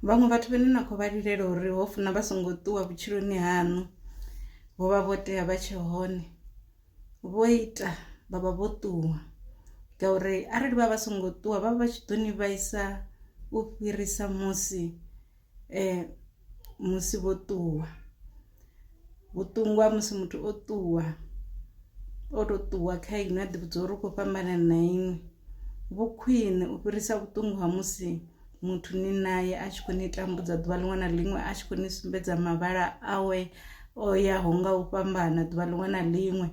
Vhaṅwe vhathu vhane na khou vha lilela uri ho funa vha songo ṱuwa vhutshiloni haṋu vho vha vho tea vha tshe hone vho ita vha vha vho ṱuwa ngauri arali vha vha songo ṱuwa vha vha tshi ḓo ni vhaisa u fhirisa musi musi vho ṱuwa. Vhuṱungu ha musi muthu o ṱuwa o to ṱuwa kha inwi a ḓi vhudza uri u kho fhambana na inwi, vhu khwiṋe u fhirisa vhuṱungu ha musi muthu ni nae a tshi kho ni tambudza ḓuvha ḽiṅwe na ḽiṅwe a tshi kho ni sumbedza mavhala awe o yaho nga u fhambana ḓuvha ḽiṅwe na ḽiṅwe.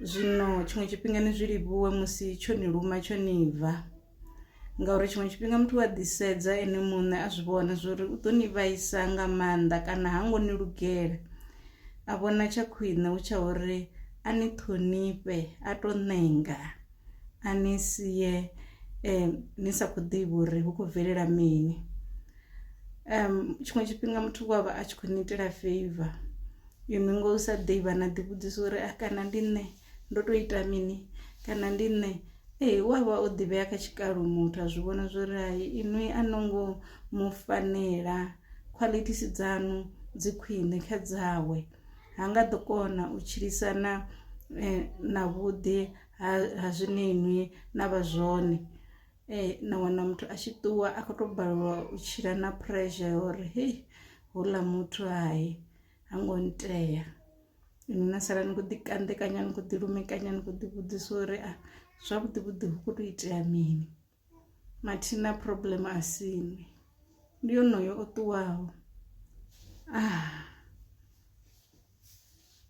Zwino tshiṅwe tshifhinga ni zwi livhuwe musi tsho ni luma tsho ni bva. ngauri tshiṅwe tshifhinga muthu wa ḓisedza ene muṋe a zwi vhona zwori u ḓo ni vhaisa nga maanḓa kana ha ngo ni lugela a vhona tsha khwine hu tsha uri a ni ṱhonifhe a to ṋenga a ni sie um ni sa khou ḓivha uri hu khou bvelela mini um tshiṅwe tshifhinga muthu wa vha a tshi khou ni itela feiva inwi ngo sa ḓivha na ḓi vhudzisa uri a kana ndi nṋe. Ndo to ita mini kana ndi nṋe ee u avha o ḓivhea kha tshikalo muthu a zwi vhona zwori hai inwi a no ngo mu fanela khwaḽithisi dzanu dzi khwiṋe kha dzawe ha nga ḓo kona u tshilisana na vhuḓi ha zwine inwi na vha zwone. Na wana muthu a tshi ṱuwa a kho to balelwa u tshila na pressure ya uri hei houḽa muthu hai ha ngo ntea inwi na sala ni kho ḓi kanḓekanya ni kho ḓi lumekanya ni kho ḓi vhudzisa uri a zwavhuḓi vhuḓi hu kho to itea mini mathina problem a si inwi ndi yonoyo o ṱuwaho ah